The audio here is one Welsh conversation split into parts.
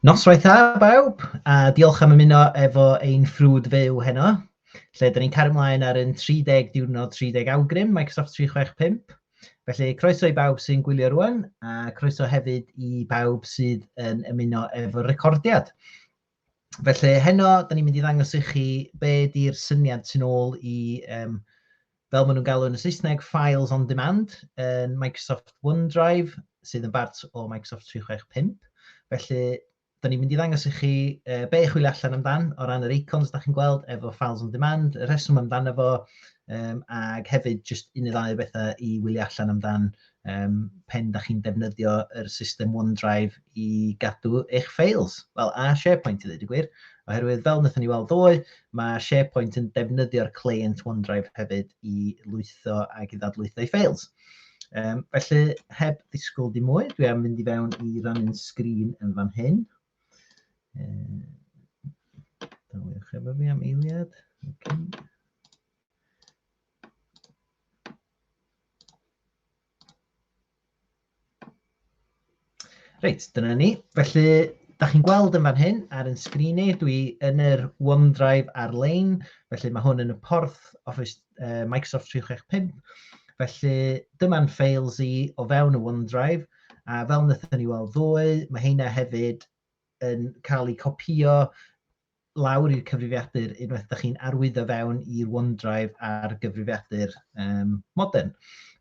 Noswaith dda bawb, a diolch am ymuno efo ein ffrwd fyw heno, lle dyn ni'n cario ymlaen ar yn 30 diwrnod 30 awgrym Microsoft 365. Felly croeso i bawb sy'n gwylio rwan, a croeso hefyd i bawb sydd yn ymuno efo'r recordiad. Felly heno, da ni'n mynd i ddangos i chi be di'r syniad sy'n ôl i, um, fel maen nhw'n galw yn y Saesneg, Files on Demand yn Microsoft OneDrive, sydd yn bart o Microsoft 365. Felly, da ni'n mynd i ddangos i chi uh, be i chwilio allan amdan o ran yr icons da chi'n gweld efo Files on Demand, y rheswm amdano fo, um, ac hefyd jyst un neu ddau o bethau i wylio allan amdan um, pen da chi'n defnyddio yr system OneDrive i gadw eich ffeils. Wel, a SharePoint i ddweud y gwir, oherwydd fel wnaethon ni weld ddoe, mae SharePoint yn defnyddio'r client OneDrive hefyd i lwytho ac i ddadlwytho ei ffeils. Um, felly, heb ddisgwyl di mwy, dwi am fynd i fewn i rannu'n sgrin yn fan hyn. Um, Daliwch efo fi am eiliad. Okay. Reit, dyna ni. Felly, da chi'n gweld yn fan hyn ar yn sgrin i, dwi yn yr OneDrive ar-lein, felly mae hwn yn y porth Office uh, Microsoft 365. Felly, dyma'n files i o fewn y OneDrive, a fel wnaethon ni weld ddoe, mae heina hefyd yn cael eu copio lawr i'r cyfrifiadur unwaith da chi'n arwyddo fewn i'r OneDrive ar gyfrifiadur um, modern.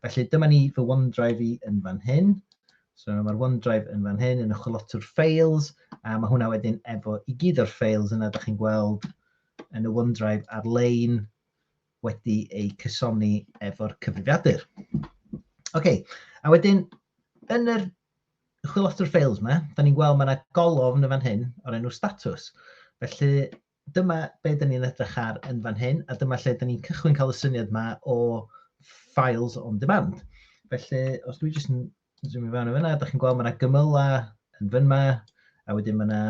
Felly dyma ni fy OneDrive i yn fan hyn. So mae'r OneDrive yn fan hyn yn y chwilotwr Files, a mae hwnna wedyn efo i gyd o'r Files yna da chi'n gweld yn y OneDrive ar-lein wedi eu cysoni efo'r cyfrifiadur. OK, a wedyn yn yr y chwilota o'r ffeils yma, da ni'n gweld mae yna golofn yn fan hyn o'r enw status. Felly dyma be da ni'n edrych ar yn fan hyn, a dyma lle da ni'n cychwyn cael y syniad yma o files on demand. Felly, os dwi jyst yn zoom i fewn o fyna, da chi'n gweld mae yna gymyla yn fan yma, a wedyn mae yna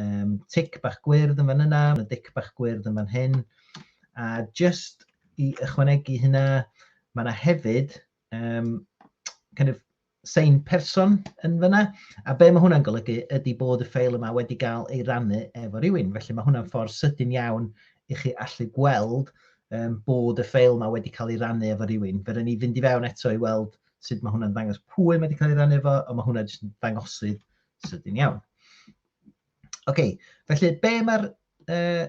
um, tic bach gwyrdd yn fan yna, mae yna dic bach gwyrdd yn fan hyn, a just i ychwanegu hynna, mae yna hefyd um, kind of sein person yn fyna. A be mae hwnna'n golygu ydy bod y ffeil yma wedi cael ei rannu efo rhywun. Felly mae hwnna'n ffordd sydyn iawn i chi allu gweld um, bod y ffeil yma wedi cael ei rannu efo rhywun. Fe ni fynd i fewn eto i weld sut mae hwnna'n dangos pwy mae wedi cael ei rannu efo, ond mae hwnna'n jyst dangosydd sydyn iawn. OK, felly be mae'r uh,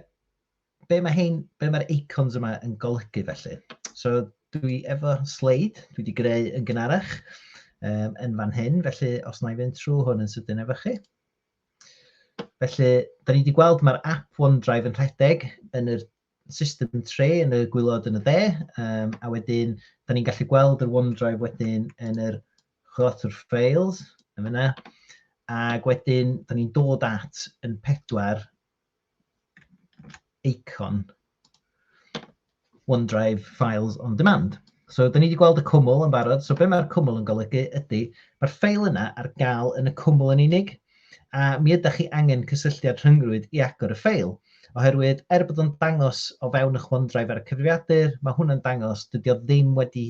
be mae hyn, be mae'r icons yma yn golygu felly? So dwi efo sleid, dwi wedi greu yn gynharach um, yn fan hyn, felly os na i fynd trwy hwn yn sydyn efo chi. Felly, da ni wedi gweld mae'r app OneDrive yn rhedeg yn yr system tre yn y gwylod yn y dde, um, a wedyn, da ni'n gallu gweld yr OneDrive wedyn yn yr chwrotwr files, yn yna, ac wedyn, da ni'n dod at yn pedwar eicon OneDrive Files on Demand. So, da ni wedi gweld y cwmwl yn barod. So, be mae'r cwmwl yn golygu ydy, mae'r ffeil yna ar gael yn y cwmwl yn unig, a mi ydych chi angen cysylltiad rhyngrwyd i agor y ffeil. Oherwydd, er bod o'n dangos o fewn eich OneDrive ar y cyfrifiadur, mae hwnna'n dangos dydy o ddim wedi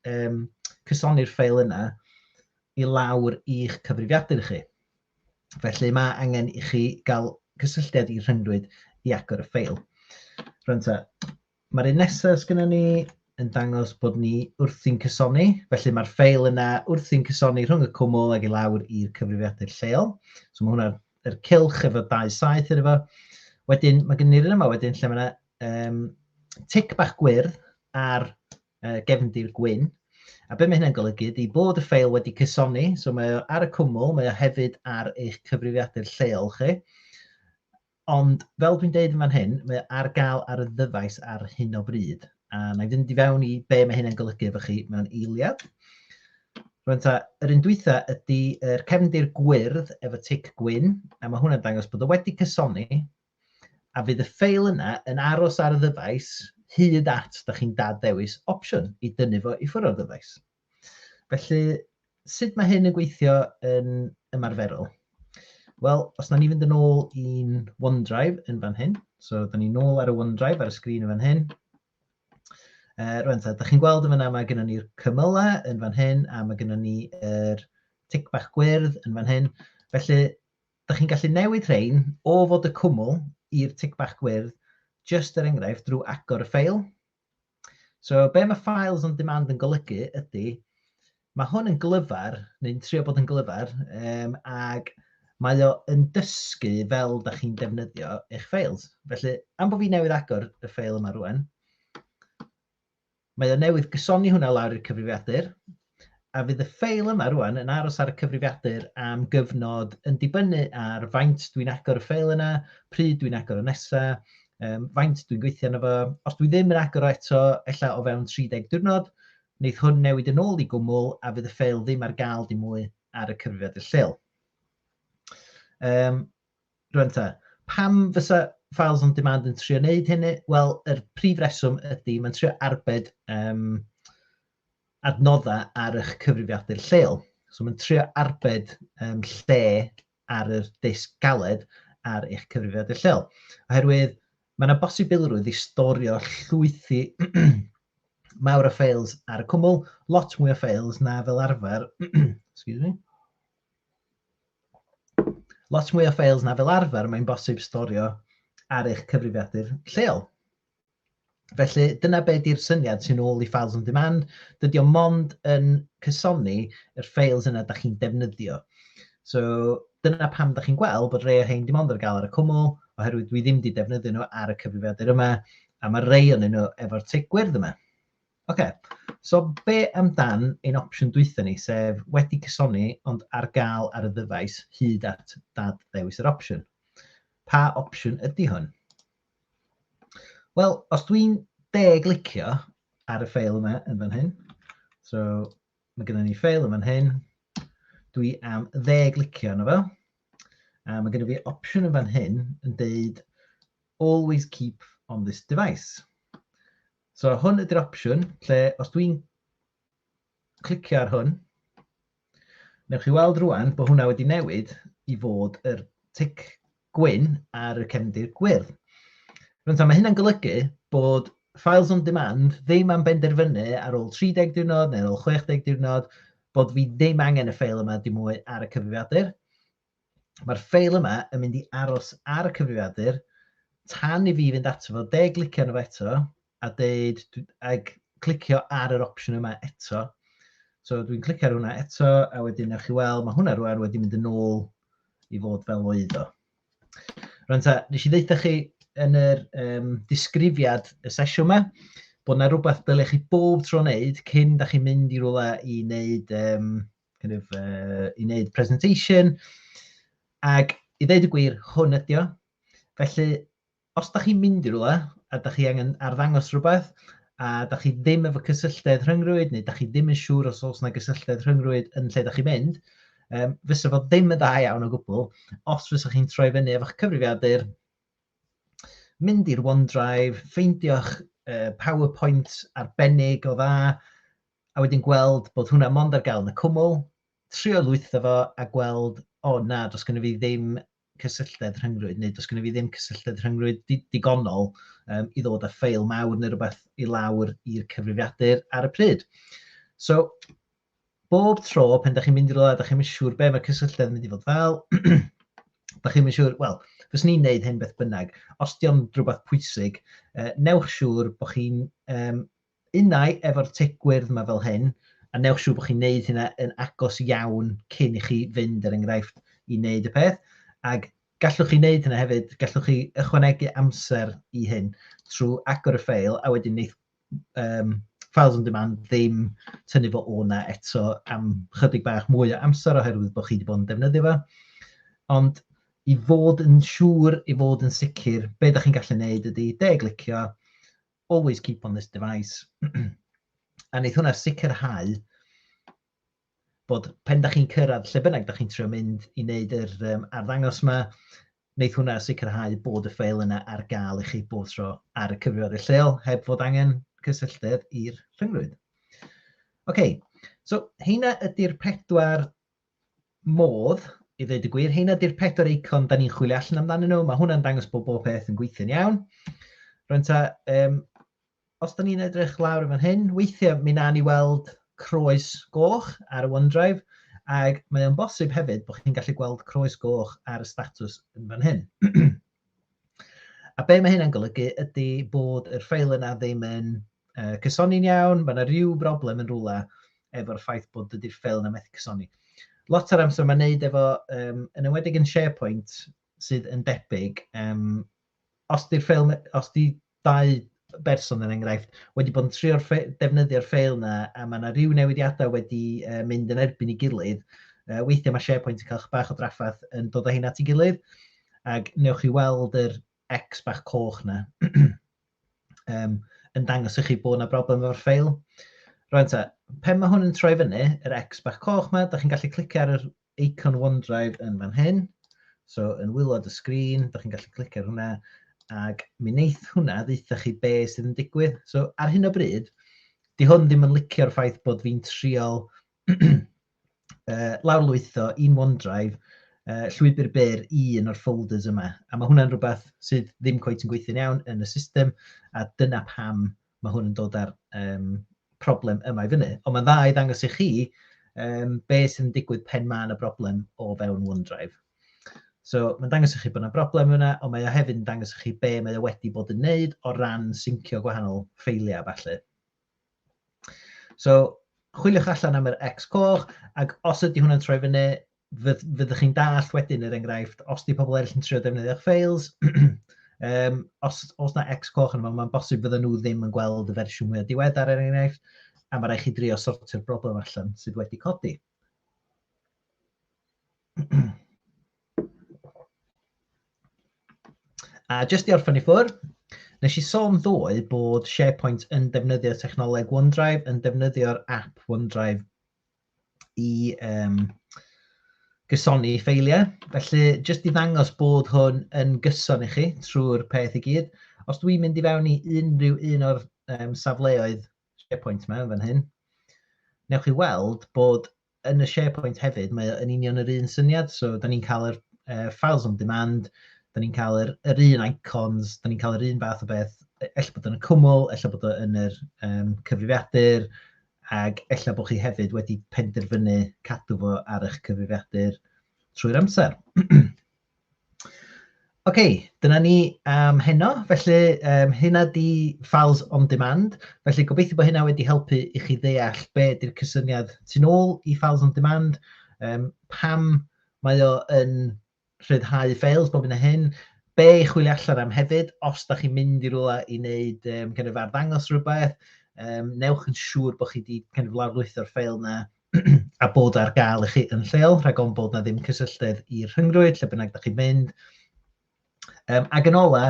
um, cysoni'r ffeil yna i lawr i'ch cyfrifiadur chi. Felly mae angen i chi gael cysylltiad i rhyngdwyd i agor y ffeil. Rwy'n ta, mae'r un nesaf sgynna ni yn dangos bod ni wrthi'n cysoni, felly mae'r ffeil yna wrthi'n cysoni rhwng y cwmwl ag i lawr i'r cyfrifiadur lleol. So mae hwnna'r er cilch efo dau saith yr efo. Wedyn, mae gen i'r un yma wedyn lle mae yna um, tic bach gwyrdd ar uh, gefndir gwyn. A be mae hynna'n golygu ydy bod y ffeil wedi cysoni, so mae o ar y cwmwl, mae o hefyd ar eich cyfrifiadur lleol chi. Ond fel dwi'n deud yn fan hyn, mae o ar gael ar y ddyfais ar hyn o bryd. A na i fynd i fewn i be mae hynna'n golygu efo chi mewn eiliad. Rwy'n ta, yr un dwytha ydy'r cefndir gwyrdd efo tic gwyn, a mae hwnna'n dangos bod o wedi cysoni, a fydd y ffeil yna yn aros ar y ddyfais hyd at da chi'n dad-ddewis opsiwn i dynnu fo i ffwrdd o'r ddyfais. Felly, sut mae hyn yn gweithio yn ymarferol? Wel, os na ni fynd yn ôl i'n OneDrive yn fan hyn, so da ni'n ôl ar y OneDrive ar y sgrin yn fan hyn, Uh, rwan, da chi'n gweld yn fyna mae gennym ni'r cymylau yn fan hyn a mae gennym ni'r er tic bach gwyrdd yn fan hyn. Felly, Dych chi'n gallu newid rhein o fod y cwmwl i'r tic bach gwyrdd, jyst er enghraifft drwy agor y ffeil. So be mae files on demand yn golygu ydy, mae hwn yn glyfar, neu'n trio bod yn glyfar, um, ac mae o yn dysgu fel da chi'n defnyddio eich ffeils. Felly, am bod fi newydd agor y ffeil yma rwan, Mae o newydd gysoni hwnna lawr i'r cyfrifiadur, a fydd y ffeil yma rŵan yn aros ar y cyfrifiadur am gyfnod yn dibynnu ar faint dwi'n agor y ffeil yna, pryd dwi'n agor o nesa, um, faint dwi'n gweithio yna fo. Os dwi ddim yn agor o eto, ella o fewn 30 diwrnod, wneith hwn newid yn ôl i gwmwl a fydd y ffeil ddim ar gael dim mwy ar y cyfrifiadur lleol. Um, Rŵan ta, pam fysa Files on Demand yn trio wneud hynny? Wel, yr prif reswm ydy, mae'n trio arbed um, adnoddau ar eich cyfrifiadur lleol. So mae'n trio arbed um, lle ar yr disg galed ar eich cyfrifiadur lleol. Oherwydd mae yna bosibilrwydd i storio llwythi mawr o ffeils ar y cwmwl, lot mwy o ffeils na fel arfer, excuse me, lot mwy o ffeils na fel arfer mae'n bosib storio ar eich cyfrifiadur lleol. Felly dyna be di'r syniad sy'n ôl i Files on Demand. Dydy o mond yn cysoni yr ffeils yna da chi'n defnyddio. So dyna pam da chi'n gweld bod rei o hein dim ond ar gael ar y cwmwl, oherwydd dwi ddim wedi defnyddio nhw ar y cyfrifiadur yma, a mae rei o'n nhw efo'r tig gwyrdd yma. Ocê, so be amdan ein opsiwn dwytha ni, sef wedi cysoni ond ar gael ar y ddyfais hyd at dad ddewis yr opsiwn? Pa opsiwn ydy hwn? Wel, os dwi'n deg licio ar y ffeil yma yn fan hyn, so mae gennym ni ffeil yn fan hyn, dwi am ddeg licio yna fel. A mae gennym fi opsiwn yn fan hyn yn deud always keep on this device. So hwn ydy'r opsiwn lle os dwi'n clicio ar hwn, newch chi weld rwan bod hwnna wedi newid i fod yr tic gwyn ar y cefndir gwyrdd. Rwy'n ta, mae hynna'n golygu bod files on demand ddim am benderfynu ar ôl 30 diwrnod neu ar ôl 60 diwrnod bod fi ddim angen y ffeil yma dim mwy ar y cyfrifiadur. Mae'r ffeil yma yn mynd i aros ar y cyfrifiadur tan i fi fynd ato fo, de glicio arno fo eto a deud, ag clicio ar yr opsiwn yma eto. So dwi'n clicio ar hwnna eto a wedyn ewch chi weld, mae hwnna rwan wedi mynd yn ôl i fod fel oedd o. Rwy'n ta, nes i ddeitha chi yn yr um, disgrifiad y sesiwn yma, bod yna rhywbeth dylech chi bob tro wneud cyn da chi'n mynd i rhywle i wneud um, kind of, uh, i wneud presentation. Ac i ddeud y gwir, hwn ydi o. Felly, os da chi'n mynd i rhywle a da chi angen arddangos rhywbeth, a da chi ddim efo cysylltedd rhyngrwyd, neu da chi ddim yn siŵr os oes yna gysylltedd rhyngrwyd yn lle da chi'n mynd, um, fysa fo ddim yn dda iawn o gwbl, os fysa chi'n troi fyny efo'ch cyfrifiadur, mynd i'r OneDrive, ffeindio'ch uh, PowerPoint arbennig o dda, a wedyn gweld bod hwnna mond ar gael yn y cwmwl, trio lwytho fo a gweld, o na, does gynno fi ddim cysylltedd rhyngrwyd, neu does gynno fi ddim cysylltedd rhyngrwyd digonol um, i ddod â ffeil mawr neu rhywbeth i lawr i'r cyfrifiadur ar y pryd. So, bob tro pen da chi'n mynd i rola, da chi'n mynd siŵr be mae cysylltedd yn mynd i fod fel, da chi'n mynd siŵr, wel, fes ni'n neud hyn beth bynnag, os di o'n rhywbeth pwysig, uh, newch siŵr bod chi'n um, Unai efo'r tŷ gwyrdd 'ma fel hyn, a newch siŵr bod chi'n neud hynna yn agos iawn cyn i chi fynd, er enghraifft, i neud y peth, ag gallwch chi neud hynna hefyd, gallwch chi ychwanegu amser i hyn trwy agor y ffeil, a wedyn neith um, Files on Demand ddim tynnu fo o 'na eto am chydig bach mwy o amser oherwydd bod chi wedi bod yn defnyddio fo. Ond i fod yn siŵr, i fod yn sicr, be da chi'n gallu neud ydy de-glicio, always keep on this device a wneith hwnna sicrhau bod pen da chi'n cyrraedd lle bynnag da chi'n trio mynd i wneud yr um, arddangos yma, wneith hwnna sicrhau bod y ffeil yna ar gael i chi bob tro ar y cyfrifoldeb lleol heb fod angen cysylltedd i'r rhyngrwyd. OK, so heina ydy'r pedwar modd, i ddweud y gwir, heina di'r pedwar eicon da ni'n chwilio allan amdanyn nhw, mae hwnna'n dangos bod bob peth yn gweithio'n iawn. Rwy'n ta, um, os da ni'n edrych lawr y fan hyn, weithiau mi na ni weld croes goch ar y OneDrive, ac mae o'n bosib hefyd bod chi'n gallu gweld croes goch ar y status yn fan hyn. a be mae hynna'n golygu ydy bod yr ffeil yna ddim yn uh, cysoni'n iawn, mae yna rhyw broblem yn rhywle efo'r ffaith bod dydy'r ffeil yna methu cysoni. Lot o'r amser mae'n neud efo, um, yn ymwedig yn SharePoint, sydd yn debyg, um, os di'r ffeil, os di dau berson yn er enghraifft wedi bod yn trio'r defnyddio'r ffeil yna a mae yna rhyw newidiadau wedi uh, mynd yn erbyn i gilydd, uh, weithiau mae SharePoint yn cael bach o draffaeth yn dod o hyn at ei gilydd, ac newch chi weld yr X bach coch na, um, yn dangos i chi bod yna broblem efo'r ffeil. Rwy'n ta, pen mae hwn yn troi fyny, yr X bach coch yma, da chi'n gallu clicio ar yr icon OneDrive yn fan hyn. So, yn wylod y sgrin, da chi'n gallu clicio ar hwnna, ac mi wneith hwnna ddeitha chi be sydd yn digwydd. So, ar hyn o bryd, di hwn ddim yn licio'r ffaith bod fi'n triol uh, lawrlwytho un OneDrive, uh, llwybr byr i un o'r folders yma. A mae hwnna'n rhywbeth sydd ddim coet yn gweithio'n iawn yn y system, a dyna pam mae hwn yn dod â'r um, problem yma i fyny. Ond mae'n dda i ddangos i chi um, be sy'n digwydd pen mae yna broblem o fewn OneDrive. So mae'n dangos i chi bod yna broblem yna, ond mae o hefyd yn dangos i chi be mae o wedi bod yn wneud o ran syncio gwahanol ffeiliau falle. So, chwiliwch allan am yr X coch, ac os ydy hwnna'n troi fyny, fyddwch chi'n dallt wedyn yr er enghraifft, os di pobl eraill yn trio defnyddio'ch ffeils, um, os, os na X coch yn yma, mae'n bosib fydden nhw ddim yn gweld y fersiwn mwy o diweddar er enghraifft, a mae rhaid chi drio sortio'r broblem allan sydd wedi codi. A jyst i orffen i ffwr, nes i sôn ddoe bod SharePoint yn defnyddio technoleg OneDrive, yn defnyddio'r app OneDrive i um, gysoni ffeiliau. Felly, jyst i ddangos bod hwn yn gyson i chi trwy'r peth i gyd. Os dwi'n mynd i fewn i unrhyw un o'r um, safleoedd SharePoint mewn fan hyn, newch chi weld bod yn y SharePoint hefyd, mae yn union yr un syniad, so da ni'n cael yr uh, files on demand, da ni'n cael yr, yr un icons, da ni'n cael yr un fath o beth, e, ella bod yn y cwmwl, ella bod yn yr um, cyfrifiadur, ac ella bod chi hefyd wedi penderfynu cadw fo ar eich cyfrifiadur trwy'r amser. Ok, dyna ni am heno. Felly um, hynna di Files on Demand. Felly gobeithio bod hynna wedi helpu i chi ddeall be ydy'r cysyniad tu'n ôl i Files on Demand, um, pam mae o yn rhyddhau ffeils bob yn y hyn, be i chwilio allan am hefyd, os da chi'n mynd i rwla i wneud um, kind of arddangos rhywbeth, um, newch yn siŵr bod chi wedi kind of lawrlwytho'r ffeil yna a bod ar gael i chi yn lleol, rhag o'n bod na ddim cysylltedd i'r rhyngrwyd, lle bynnag da chi'n mynd. Um, ac yn ola,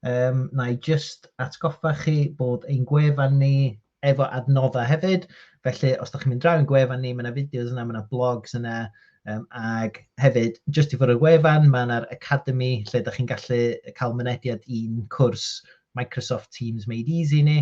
um, na i just atgoffa chi bod ein gwefan ni efo adnoddau hefyd, felly os da chi'n mynd draw yn gwefan ni, mae yna fideos yna, mae yna blogs yna, um, ac hefyd, just i fod y gwefan, mae yna'r Academy, lle da chi'n gallu cael mynediad i'n cwrs Microsoft Teams Made Easy ni,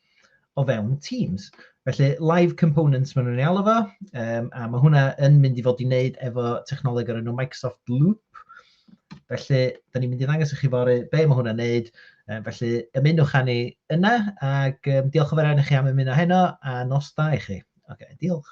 o fewn Teams. Felly, live components maen nhw'n ei alw fo, um, a mae hwnna yn mynd i fod i wneud efo technoleg o'r enw Microsoft Loop. Felly, da ni'n mynd i ddangos i chi fori be mae hwnna'n wneud. Um, felly, ymunwch â ni yna, ac um, diolch o fer i chi am ymuno heno, a nos da i chi. Oce, okay, diolch.